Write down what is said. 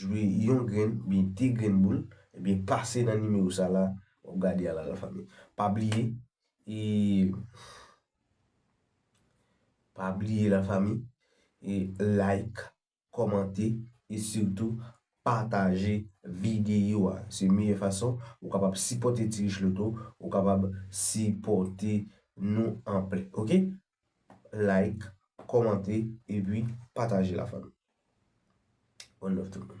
Jwi yon grenn oubyen 2 grenn boul ebyen pase nan nimewo sa la wap gade a la la fanmi. Pa bliye e pa bliye la fanmi e like, kòmante e sitou pataje videyo a. Se meyè fason ou kapab sipòte Ti Richloto, ou kapab sipòte nou anpl. Ok! like kòmante epi pataje la fanmi one love tout moun.